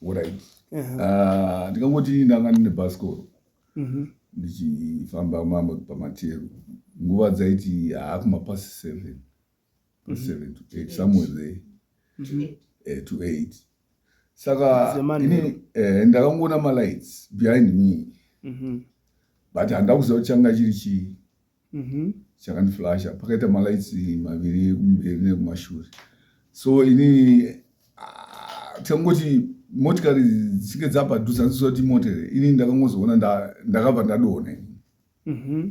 orit ah, ndikangoti ndanga ndine bhasikoro mhm. ndichifamba mama pamateru nguva dzaiti haakuma pasi seven mhm. seven to eight somewhere there mhm. eh, to eight saka ini eh, ndakangoona malights behind me but handida kuziva kuti changa chiri chii mhm. chakandiflasha pakaita malights maviri ekumberi nekumashure so ini ah, tikangoti motikari dzichinge dzapadhuza ndisua kuti motere ini ndakangozoona ndakabva ndadona ini mhm.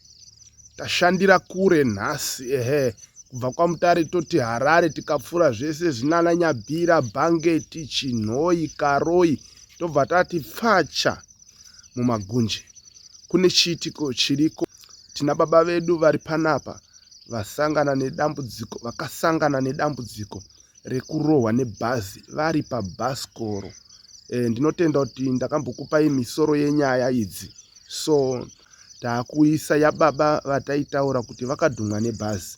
tashandira kure nhasi ehe kubva kwamutare toti harare tikapfuura zvese zvinana nyabhira bhangeti chinhoyi karoi tobva tati pfacha mumagunje kune chiitiko chiriko tina baba vedu vari panapa vasangana nedambudziko vakasangana nedambudziko rekurohwa nebhazi vari pabhasikoro e, ndinotenda kuti ndakambokupai misoro yenyaya idzi so takuisa yababa vataitaura kuti vakadhumwa nebhazi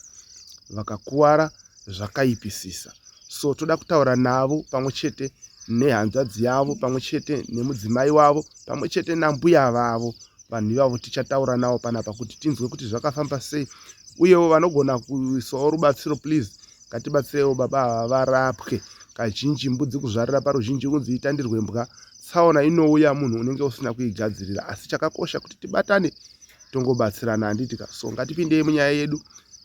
vakakuvara zvakaipisisa so toda kutaura navo pamwe chete nehanzvadzi yavo pamwe chete nemudzimai wavo pamwe chete nambuya vavo vanhu ivavo tichataura navo panapa kuti tinzwe kuti zvakafamba sei uyewo vanogona kuisawo rubatsiro please ngatibatsirewo baba ava varapwe kazhinji mbudzi kuzvarira paruzhinji kunzi itandirwe mbwa tsaona inouya munhu unenge usina kuigadzirira asi chakakosha kuti tibatane tongobatsirana handiti ka so ngatipindei munyaya yedu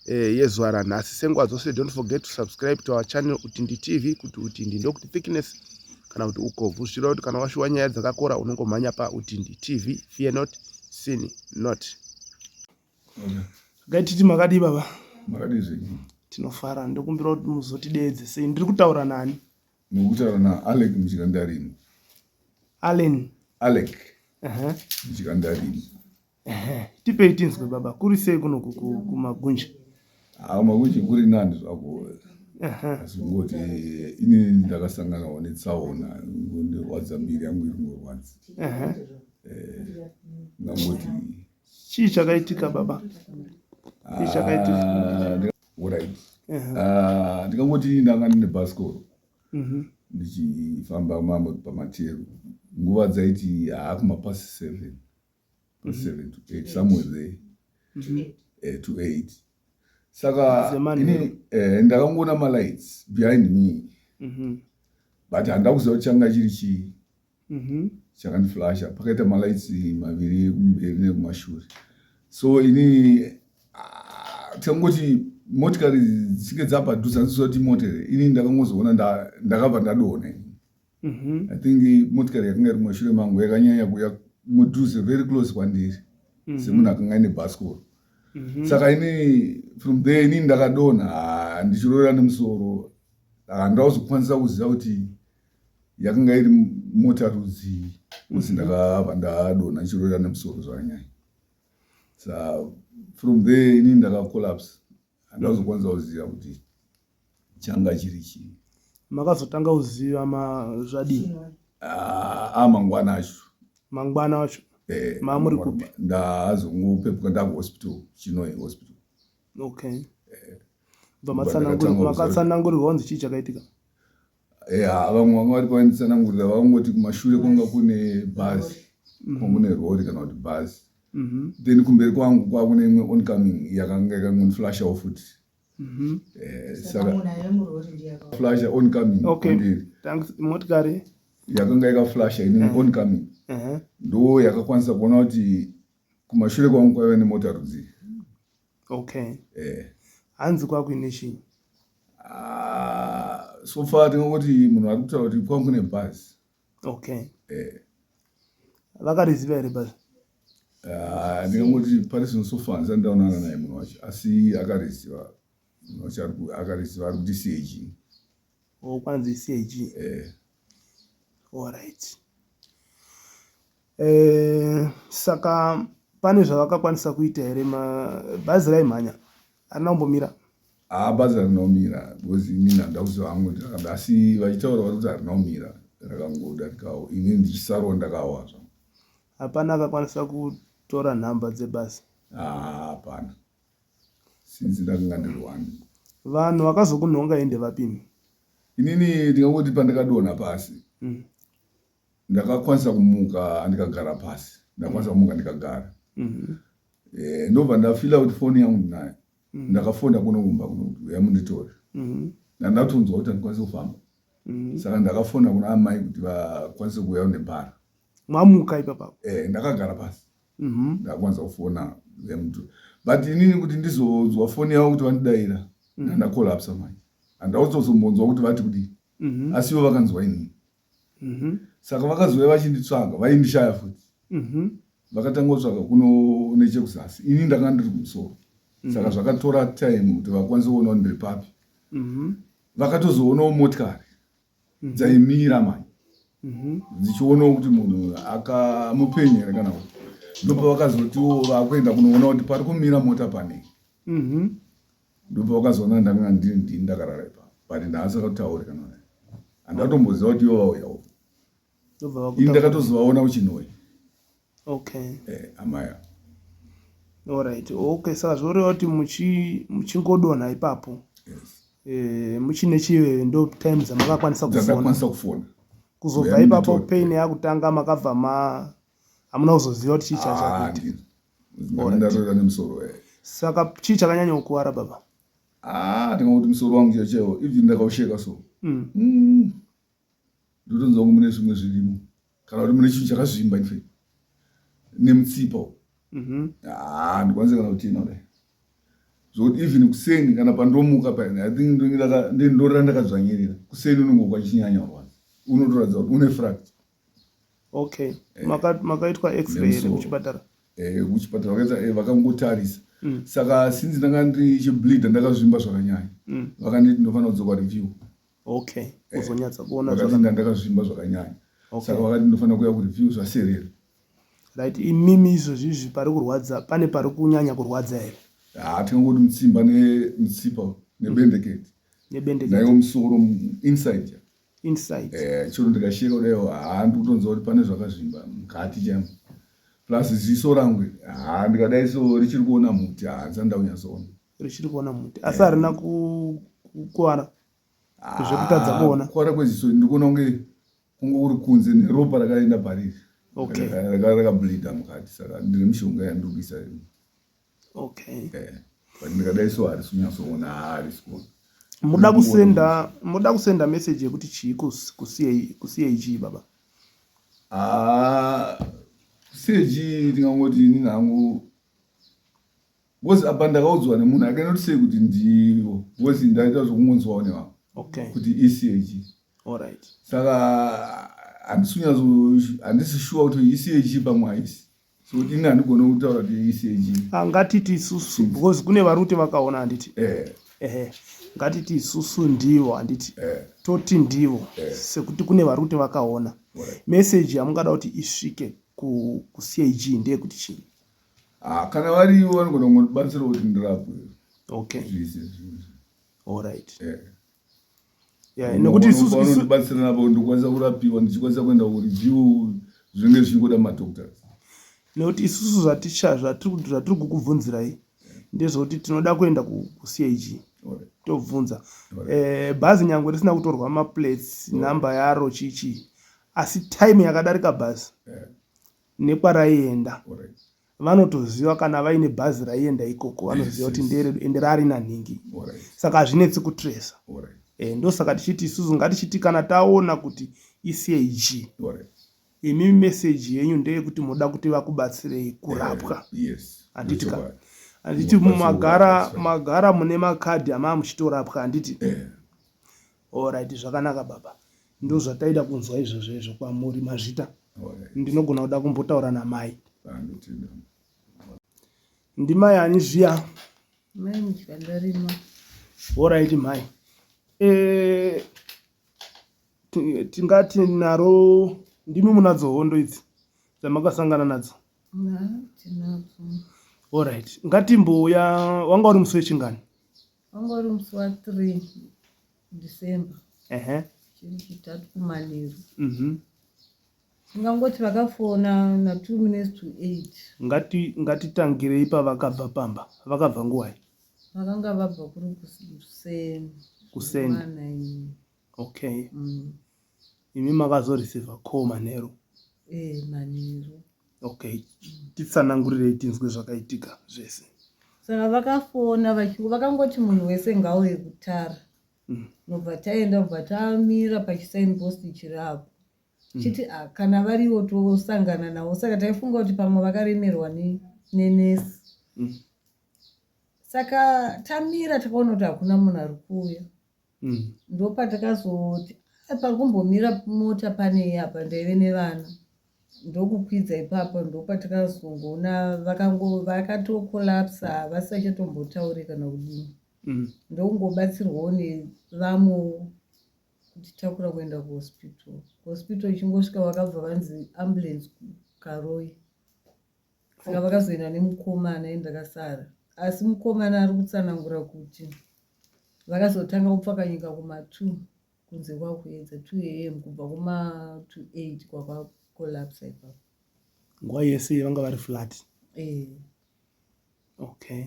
eh, yezuva ranhasi senguva dzose don't forget to subscribe to our channel utindi tv kuti utindi ndokuti thickness kana kuti ukobvu zvichireva kuti kana washuwa nyaya dzakakora unongomhanya pautindi tv fear not sin not gaititi makadii baba makadii tinofara ndokumbira kuti muzotideedze sei ndiri kutaura nani Mukutaura naAlec muchikandarini. Allen. Alec. Aha. Muchikandarini. Ehe, tipei tinzwe baba, kuri sei kuno ku- ku- kumagunja? Ah, makuchi kuri nani zvako. Aha. Asi kungoti eh, ini ndakasanganawo netsaona ndirwadza mbiri yangu iri kurwadza. Aha. Ngangoti Chii chakaitika baba? Chii chakaitika? ah, orit ah, ndikangoti ndanga ndine bhasikoro mhm. ndichifamba mamwe pamateru nguva dzaiti haakuma pasi seven mhm. seven to eight somewhere there mhm. eh, to eight saka ini eh, ndakangoona malights behind me but handauziva kuti changa chiri chii mhm. chakandiflasha pakaita malights maviri ekumberi nekumashure so ini ah, tangoti motikari dzichinge dzapadhuza ndisua kuti motere ini ndakangozoona ndakabva ndadona mhm. i think motikari yakanga iri mashure mangu yakanyanya kuya mudhuze very close kwandiri mhm. semunhu akanga ine bhasikoro mhm. saka ini from there ini ndakadona ah, ndichirorera nemusoro ah, ndakuzokwanisa kuziva kuti yakanga iri mota rudzii kusi mhm. ndakabva ndadonha ndichirorera nemusoro zvanyaya sa from there ini ndakacollapse andazokwanisa kuziva kuti changa chiri chii makazotanga kuziva zvadii ah, a ah, mangwana acho mangwana acho eh, mamuri kupi ndazongopepuka ndakuhospital chinoi hospital okay eh, bva makatsanangurirwa kunzi chii chakaitika Eya vamwe vanga vari pavanitsanangurira vakangoti kumashure kwanga kune bhazi mm-hmm. kwanga kune rori kana kuti bhazi mm-hmm. then kumberi kwangu kwakune imwe oncoming yakanga yakangondiflashawo futi mm-hmm. eh, sakaflasha oncoming kumberi motikari yakanga yakaflasha ini eh. oncoming eh. ndo yakakwanisa kuona kuti kumashure kwangu kwaiva nemota rudzii okay eh hanzi kwakuine chii ah, so far tinongoti munhu ari kutaura kuti kwangu kune bhazi okay eh vakariziva here bhazi ah, ndingangoti pari zvino so far ndisati ndaonana naye munhu wacho asi akariziva munhu wacho akariziva ari kuti cag o oh, kwanzi cag eh allright Eh, saka pane zvavakakwanisa kuita here bhazi raimhanya arina kumbomira haa bhazi harina kumira because ini ndanda kuziva hangu ndirakada asi vachitaura vari kuti harina kumira rakangodarikawo ini ndichisarwa ndakawa zva hapana akakwanisa kutora nhamba dzebhazi hapana since ndakanga ndiri one vanhu vakazokunhonga ende vapini inini ndingangoti pandakadona pasi mm. ndakakwanisa kumuka andikagara pasi ndakwanisa kumuka ndikagara mm-hmm. eh, ndobva ndafila kuti foni yangu ndinayo mm-hmm. ndakafonda kuno kumba kuno kuti uya munditore mm-hmm. nandatonzwa kuti andikwanise kufamba saka ndakafona kuna amai kuti vakwanise kuuya unebhara mamuka ipapa eh, ndakagara pasi ndakwanisa kufona emtu but inini kuti ndizonzwa foni yavo kuti vandidaira ndandakolapsa manje handauzozombonzwa kuti vati kudii asiwo vakanzwa inini mhm. saka vakazouya vachinditsvaga vaindishaya futi mhm. vakatanga kutsvaga kuno nechekuzasi ini ndanga ndiri kumusoro mhm. saka zvakatora time kuti vakwanise kuonawo ndiri papi vakatozoonawo motikari dzaimira mani dzichionawo kuti munhu akamupenyu here kana kuti ndopavakazotiwo vakuenda kunoonawo kuti pari kumira mota panei Ndobva wakazoona ndanga ndiri ndini ndakarara ipa but ndaasakatauri kana naye andatomboziva kuti ivo vauyawo ini ndakatozovaona kuchinoi okay eh, amaya orit okay saka zvoreva kuti muchingodonha ipapo yes. eh, muchine chive ndo time dzamakakwanisa kufona kuzobva ipapo pain yakutanga makabva ma hamuna kuzoziva kuti chii ah, chachakuita ndarwara nemusoro eh. saka chii chakanyanya kukuwara baba ah ndinga kuti musoro wangu chacheo even ndakausheka so mm. mm. ndotonza wangu mune zvimwe zvirimo kana kuti mune chinhu chakazvimba nfe nemutsipa u mm-hmm. ah, ndikwanise kana kuti ina kudai zvokuti even kuseni kana pandomuka pain i think ndorera ndakadzvanyirira kuseni unongokwa chinyanya rwadza unotoratidza kuti une fracture okay eh. makaitwa maka x-ray here kuchipatara eh, kuchipatara vakaita eh, vakangotarisa mm. saka since ndanga ndiri chibleeda ndakazvimba zvakanyanya mm. vakanditi ndofanira kudzoka review okay eh, uzonyatsa eh, kuona zvakati ndakazvimba zvakanyanya okay. saka vakati ndofanira kuya kureview zvaserera right imimi izvozvi izvi pari kurwadza pane pari kunyanya kurwadza here haa ah, tingangoti mutsimba nemutsipa nebendeketi nebendeketi naiwo musoro inside inside eh chiro ndikasheka kudaiwo haa ndikutonzwa kuti pane zvakazvimba mukati chaimo plus ziso rangu haa ndikadai so richiri kuona muti haa dzanda kunyatsoona richiri kuona muti asi harina kukuvara zvekutadza kuona kukuvara kweziso ndikuona kunge kunge uri kunze neropa rakaenda pariri rakablinda mukati saka ndine mishonga yandiri kuisa okay eh but ndikadai so harisi kunyatsoona harisi kuona muda kusenda muda kusenda message yekuti chii kucag baba ah, cag ndingangoti ini nangu bcause apa ndakaudzwa nemunhu akanoti sei kuti ndivo bcause ndaita zvekungonzwawo nevavo okay. kuti ecag right. saka handisi shuwa kuti ecag pamwe haisi so ini handigone kutaura kuti iisei chii Ah, ngatiti isusu because kune vari kuti vakaona handiti eh ehe ngatiti isusu ndivo handiti eh toti ndivo Eh. sekuti kune vari kuti vakaona Alright. meseji yamungada kuti isvike ku- kucag ndeyekuti chii ah kana varivo vanogona kungobatsirawo kuti ndirapwe okay zviise zvinhu alright eh Yeah, Munhu nekuti isusu- unofanira isu- kundibatsira napo ndikwanisa kurapiwa ndichikwanisa kuenda kureview zvinenge zvichingoda madoctors nekuti isusu zvaticha zvatiri zvatiri kukubvunzirai ndezvekuti tinoda kuenda ku- kucag Alright. tobvunza Eh, bhazi nyangwe risina kutorwa maplates nhamba yaro chichi asi time yakadarika bhazi Yeah. nekwaraienda vanotoziva kana vaine bhazi raienda ikoko vanoziva kuti nderedu ende raari nanhingi saka hazvinetsi kutresa eh, ndosaka tichiti isusu ngatichiti kana taona kuti icg imi meseji yenyu ndeyekuti moda kuti vakubatsirei kurapwa eh, handiti ka handiti magara magara mune makadhi amaa muchitorapwa handiti eh. Horaiti zvakanaka baba ndozvataida kunzwa izvozvo izvo kwamuri mazvita ndinogona kuda kumbotaura namai ndimai ani zviya horaiti mhai eh, tingati naro ndimi munadzo hondo idzi dzamakasangana nadzo horaiti ngatimbouya wanga uri musi wechingani wanga uri musi wa 3 december ehe chiri chitatu kumanheru mhm tingangoti vakafona na 2 minutes to 8 ngati ngatitangirei pavakabva pamba vakabva nguwai vakanga vabva kuri kus- kuseni kuseni Mangwanani. okay mm. imi makazoreceiva call manheru eh, manheru okay titsanangurirei tinzwe zvakaitika zvese saka vakafona vakangoti munhu wese ngauye kutara mm. nobva taenda bva tamira pachisain post chiri apo mm. chiti ah, kana variwo tosangana navo saka taifunga kuti pamwe vakaremerwa nenesi mm. saka tamira takaona kuti hakuna munhu ari kuuya mm. ndopatakazoti parikumbomira mota panei apa ndaive nevana ndokukwidza ipapo ndopatakazongoona vakatokolapsa vasisachatombotaure kana kudii mm. ndokungobatsirwawo nevamwe kutitakura kuenda kuhospital kuhospital ichingosvika vakabva vanzi ambulance karoi saka vakazoenda nemukoma anaye ndakasara asi mukomana ari kutsanangura kuti Vakazotanga kupfakanyika kuma 2 kunze kwakuedza 2am kubva kuma 28 kwakwa collapse ipapo. Nguva yese vanga vari flat. Eh. Okay.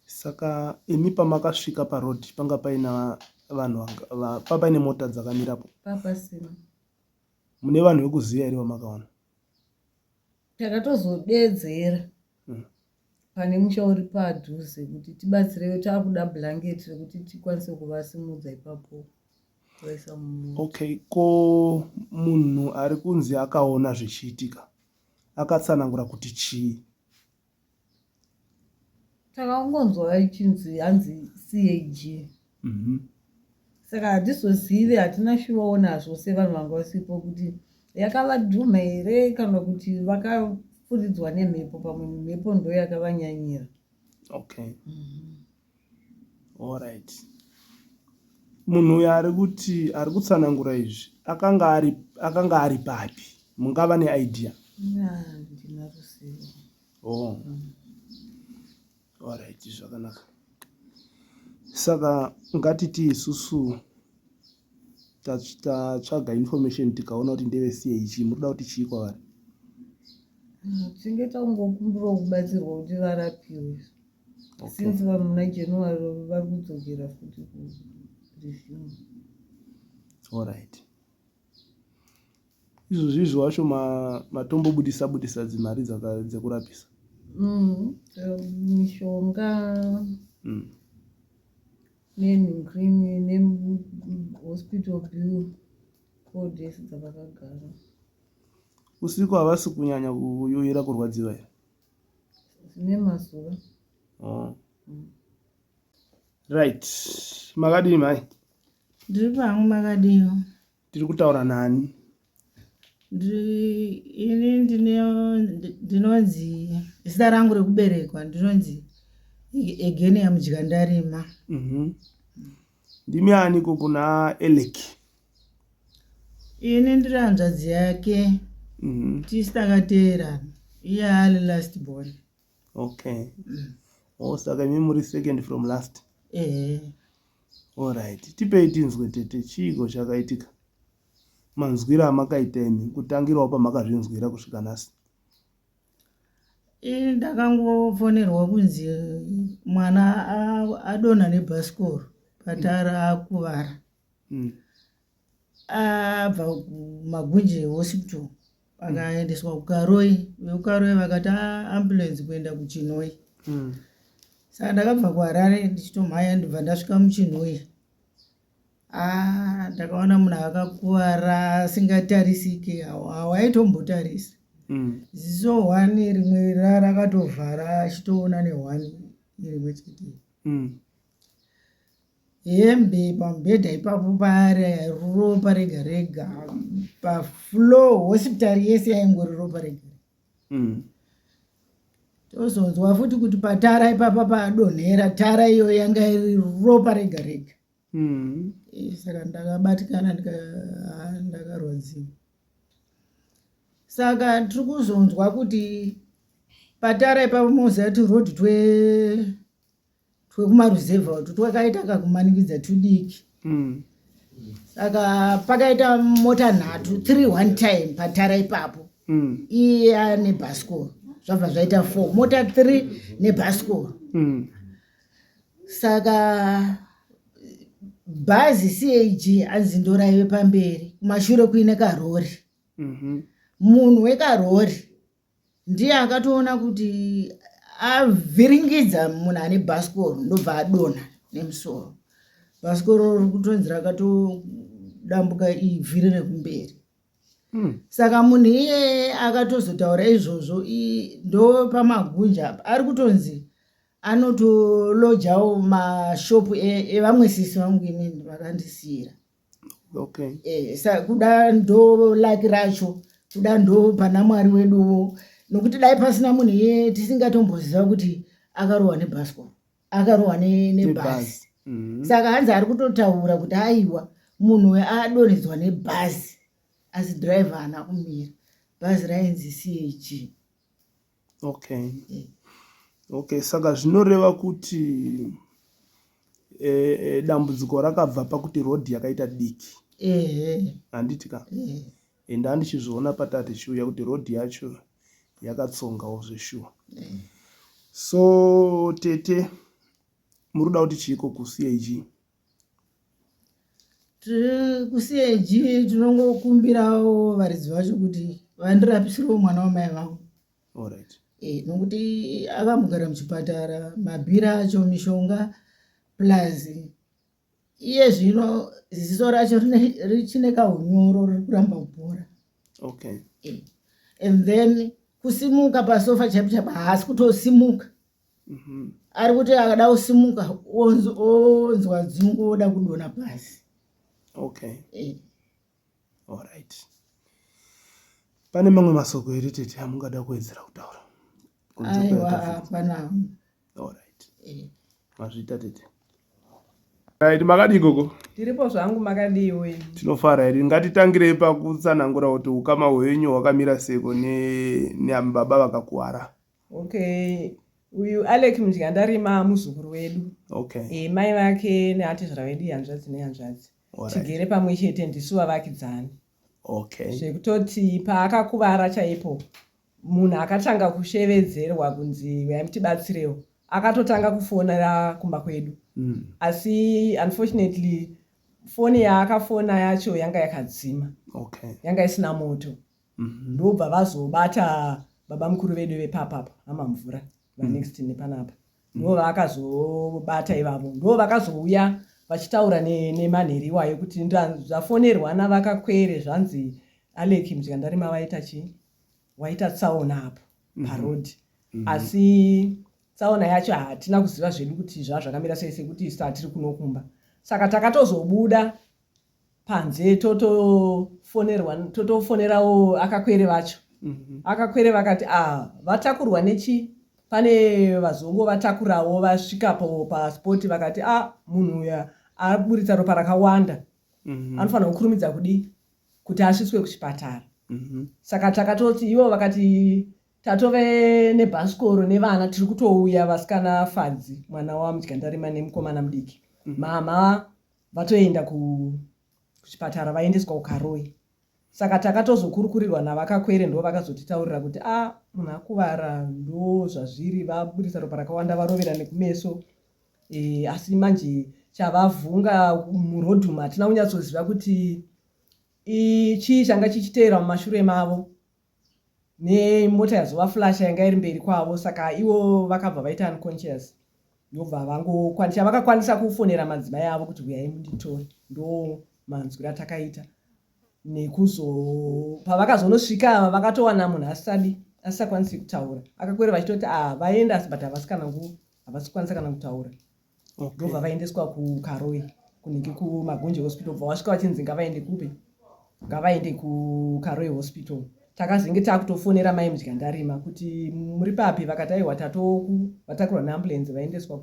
Saka imi pamakasvika paroad panga paina vanhu pa paine mota dzakamirapo? Papasina. Mune vanhu vekuziva here vamakaona? Takatozodedzera. Hmm. pane musha uri padhuze kuti tibatsirewe taakuda blanket rekuti tikwanise kuvasimudza ipapo kuvaisa mumota okay ko munhu ari kunzi akaona zvichiitika akatsanangura kuti chii takangonzwa vachinzi hanzi cag Mhm. saka hatizozive hatina shuwawo nazvo sevanhu vanga vasipo kuti yakavadhumha here kana kuti vakafuridzwa nemhepo pamwe mhepo ndo yakavanyanyira okay mhm. allright munhu uyo ari kuti ari kutsanangura izvi akanga ari akanga ari papi mungava neidea ndina ruzivo oh. Alright, zvakanaka. Saka ngatiti isusu tatsvaga information tikaona kuti ndeve CAG murikuda kuti chii kwavari? Tinge tangokumbirawo kubatsirwa kuti varapiwe since vanhu muna January vari kudzokera futi ku resume. Alright. izvozvi izvo wacho matombobudisa budisa dzimari dzekurapisa mm, mishonga mm. nenhukrini nehospital bill codes dzavakagara usiku havasi kunyanya kuyoyera kurwadziva here zvine mazuva oh. mm. right makadii mhai Ndiri pangu makadiwa. Ndiri kutaura nani? Ini ndinonzi zita rangu rekuberekwa ndinonzi egeni yamudya ndarima. Mhm. Ndimi ani ko kuna Elek? Ini ndiri hanzvadzi yake. Mhm. Tisitakateerana. Iye ali last born. okay mm. oh, saka imi muri second from last eh. allright tipei tinzwe tete chiiko chakaitika manzwira amakaita imi kutangirawo pamakazvinzwira kusvika nhasi eh, ndakangofonerwa kunzi mwana adonha nebhasikoro patara akuvara mm. abva magunje hospital akaendeswa kukaroi vekukaroi vakati ah, ambulance kuenda kuchinoi mm. saka ndakabva kuharare ndichitomhaya ndibva ndasvika muchinoi ah, ndakaona munhu akakuvara asingatarisike hawaitombotarisi mm. ziso hwani rimwe rarakatovhara achitoona nehwani rimwe chete mm. hembe pamubhedha ipapo pare ropa rega rega paflow hospitari yese yaingori ropa rega mm. tozonzwa futi kuti patara ipapa padonhera tara iyo yanga iri ropa rega rega mm. eh, saka ndakabatikana ah, ndakarwadziwa saka tiri kuzonzwa kuti patara ipapa mozati road twe twekumaruzevha utu twakaita kakumanikidza tudiki mm. saka pakaita mota nhatu three one time patara ipapo mm. iya nebhasikoro zvabva zvaita four mota three nebhasikoro mm. saka bhazi cag anzi ndoraive pamberi kumashure kuine karori mm-hmm. munhu wekarori ndiye akatoona kuti avhiringidza munhu ane bhasikoro ndobva adonha nemusoro bhasikoro riri kutonzi rakatodambuka ivhiri rekumberi hmm. saka munhu iyeye akatozotaura izvozvo ndo pamagunja apa ari kutonzi anotolojawo mashopu e, evamwe sisi vangu inini vakandisiyira okay. e, sa, kuda ndo laki racho kuda ndo pana mwari weduwo nokuti dai pasina munhu iye tisingatomboziva kuti akarohwa nebhasikoro akarohwa nebhazi mm-hmm. saka hanzi ari kutotaura kuti aiwa munhu uyo adonhedzwa nebhazi asi driver haana kumira bhazi rainzi cg okay mm. okay saka zvinoreva kuti e, e, dambudziko rakabva pakuti rodhi yakaita diki handiti ka ende andichizviona pataa tichiuya kuti rodhi yacho yakatsongawo zveshuwa so tete muri kuda kuti chiiko kucag tiri kuseji tinongokumbirawo varidzi vacho kuti vandirapisirwo mwana wamai vangu eh, nokuti akambogara muchipatara mabhira acho mishonga plus iye zvino ziziso racho richine kaunyoro riri kuramba kubhora okay. Eh, and then kusimuka pasofa chaipo chaipo haasi kutosimuka mhm. ari kuti akada kusimuka onzwa dzungu oda kudona pasi okay eh. all right pane mamwe masoko here tete amungada kuwedzera kutaura aiwa hapana all right eh. mazvita tete Right, makadii gogo? Tiripo zvangu makadii we. Tinofara here. Ngatitangirei pakutsanangura kuti ukama hwenyu hwakamira seko ne neababa vakakuwara. Okay, uyu Alec Mudyandarima muzukuru wedu. Okay. E, mai vake neatezvara vedu ihanzvadzi nehanzvadzi. Right. Tigere pamwe chete ndisu vavakidzani. Okay. Zvekutoti paakakuvara chaipo munhu akatanga kushevedzerwa kunzi huyai mutibatsirewo akatotanga kufonera kumba kwedu mm. asi unfortunately foni yaakafona yacho yanga yakadzima okay. yanga isina moto Mhm, ndobva vazobata babamukuru vedu vepapa apa hama mvura Mm. vanext nepanapa ndo vakazobata ivavo ndo vakazouya vachitaura ne- nemanheri iwayo kuti nda- zvafonerwa navakakwere zvanzi alec mzvikandarima vaita chii waita tsaona apo Mhm. paroad Mhm. asi tsaona yacho hatina kuziva zvedu kuti zvazvakamira sei sekuti isu hatiri kunokumba saka takatozobuda panze totofonerwa totofonerawo akakwere vacho mhm. akakwere vakati a ah, vatakurwa nechi pane vazongo vatakurawo vasvikapo paspot vakati a ah, munhu uya aburitsa ropa rakawanda mhm. anofanira kukurumidza kudii kuti asvitswe kuchipatara mhm. saka takatoti ivo vakati tatove nebhasikoro nevana tiri kutouya vasikana fadzi mwana wamudyandarima nemukomana mudiki mama vatoenda ku kuchipatara vaendeswa kukaroi saka takatozokurukurirwa navakakwere ndo vakazotitaurira kuti a ah, munhu akuvara ndo zvazviri vaburitsa ropa rakawanda varovera nekumeso e, asi manje chavavhunga murodhum hatina kunyatsoziva kuti chii changa chichiteera mumashure mavo nemota yazova flash yanga iri mberi kwavo saka ivo vakabva vaita unconscious ndobva vangokwanisa vakakwanisa kufonera madzimai avo kuti huyai munditore ndo manzwi ratakaita nekuzo pavakazonosvika ava vakatowana munhu asisadi asisakwanisi kutaura akakwereva achitoti ah vaenda asi but havasi kana nguva havasi kukwanisa kana kutaura ndobva vaendeswa kukaroi kunenge kumagunje hospital bva wasvika vachinzi ngavaende kupi ngavaende kukaroi hospital takazenge takutofonera mai mudya ndarima kuti muri papi vakati aiwa tatoku vatakurwa neambulensi vaendeswa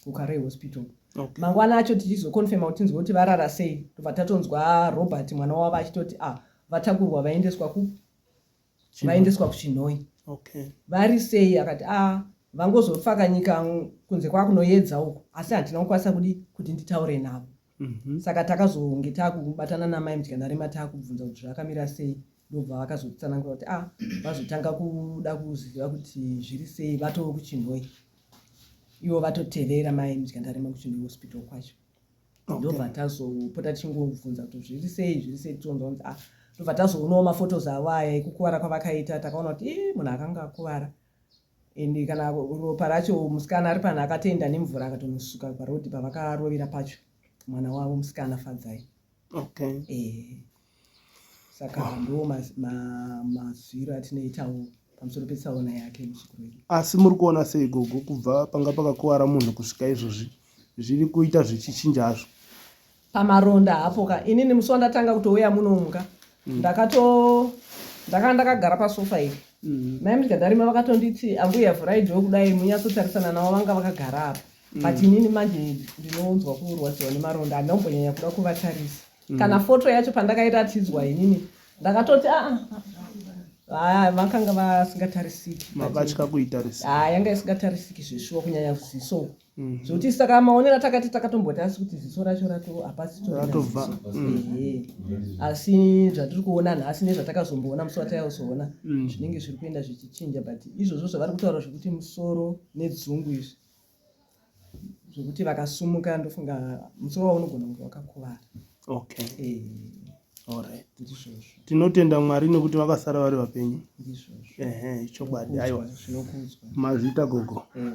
kukaroi hospital okay. mangwana acho tichizokonfirma kuti tinzwe kuti varara sei tobva tatonzwa robert mwana wavo achitoti ah vatakurwa vaendeswa ku vaendeswa kuchinhoyi okay. vari sei akati a ah, vangozofa kanyika kunze kwakunoyedza uko asi handina kukwanisa kudi kuti nditaure navo mm -hmm. saka takazonge takubatana namai mudyanarema takubvunza kuti zvakamira sei ndobva vakazotsanangura kuti a ah, vazotanga kuda kuziva kuti zviri sei vatoo kuchinhoyi ivo vatotevera mai mudyandarema kuchinhoyi hospital kwacho ndobva tazopota tichingobvunza kuti zviri sei zviri sei tichionza kunzi ah ndobva tazoonawo mafotos avo aya ekukuvara kwavakaita takaona kuti e munhu akanga akuvara and kana ropa racho musikana ari panhu akatoenda nemvura akatonosuka parodi pavakarovera pacho mwana wavo musikana fadzai okay. e. saka ndiwo mazwiro atinoitawo pamusoro petsaona yake muzukuru wedu asi muri kuona sei gogo kubva panga pakakuvara munhu kusvika izvozvi zviri kuita zvichichinja hazvo pamaronda hapo ka inini musi wandatanga kutouya munomuka mm. ndakato ndakanga ndakagara pasofa iri mm. mai mudyadarima vakatonditi ambuya vhurai dho kudai munyatsotsarisana navo vanga vakagara apa mm. but inini manje ndinonzwa kurwadziwa nemaronda handina kumbonyanya kuda kuvatarisa kana mm. foto yacho pandakairatidzwa inini ndakatoti aa ah, ah, Ah, vakanga vasingatarisiki mabatya kuitarisiki ah, yanga isingatarisiki zveshuwa kunyanya ziso mhm. zvokuti saka maonera takati takatomboti asi kuti ziso racho rato hapasitoratobva mhm. asi zvatiri kuona nhasi nezvatakazomboona musi wataiuzoona mhm. zvinenge zviri kuenda zvichichinja but izvozvo zvavari kutaura zvekuti musoro nedzungu izvi zvekuti vakasumuka ndofunga musoro wavo unogona kunge wakakuvara okay eh. Alright. tinotenda mwari nekuti vakasara vari vapenyu ehe chokwadi aiwa mazvita gogo eh.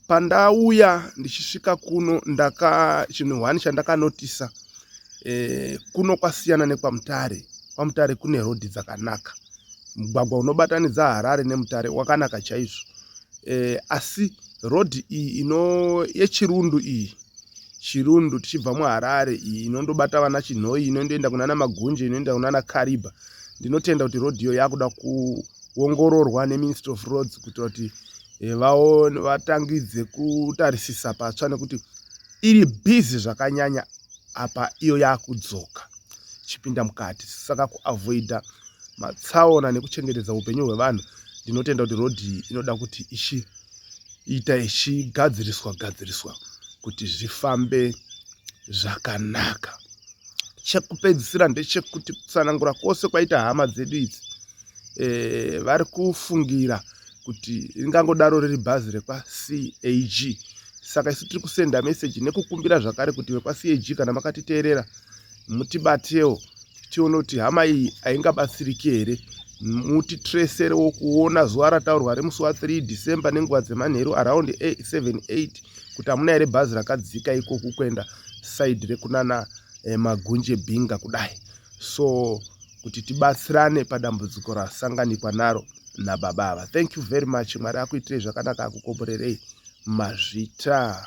pandauya ndichisvika kuno ndaka chinhu hwani chandakanotisa eh, kuno kwasiyana nekwamutare kwamutare kune rodhi dzakanaka mugwagwa unobatanidza harare nemutare wakanaka chaizvo eh, asi road iyi ino yechirundu iyi chirundu tichibva muharare iyi inondobata vana chinhoi inondoenda kunana magunje inoenda kunana kariba ndinotenda kuti road iyo yakuda kuongororwa neministry of roads kuitira kuti eh, vaone vatangidze kutarisisa patsva nekuti iri busy zvakanyanya apa iyo yakudzoka chipinda mukati saka kuavoida matsaona nekuchengetedza upenyu hwevanhu ndinotenda kuti road iyi inoda kuti ichi ita ichigadziriswa gadziriswa kuti zvifambe zvakanaka chekupedzisira ndechekuti kutsanangura kwose kwaita hama dzedu idzi e, vari kufungira kuti ringangodaro riri bhazi rekwacag saka isu tiri kusenda meseji nekukumbira zvakare kuti vekwacag kana makatiteerera mutibatewo tione kuti hama iyi haingabatsiriki here muti treserewo kuona zuva rataurwa remusi wa 3 december nenguva dzemanheru around 78 kuti hamuna here bhazi rakadzika ikoku kuenda side rekunana eh, magunje binga kudai so kuti tibatsirane padambudziko rasanganikwa naro nababa ava thank you very much mwari akuitirei zvakanaka akukomborerei mazvita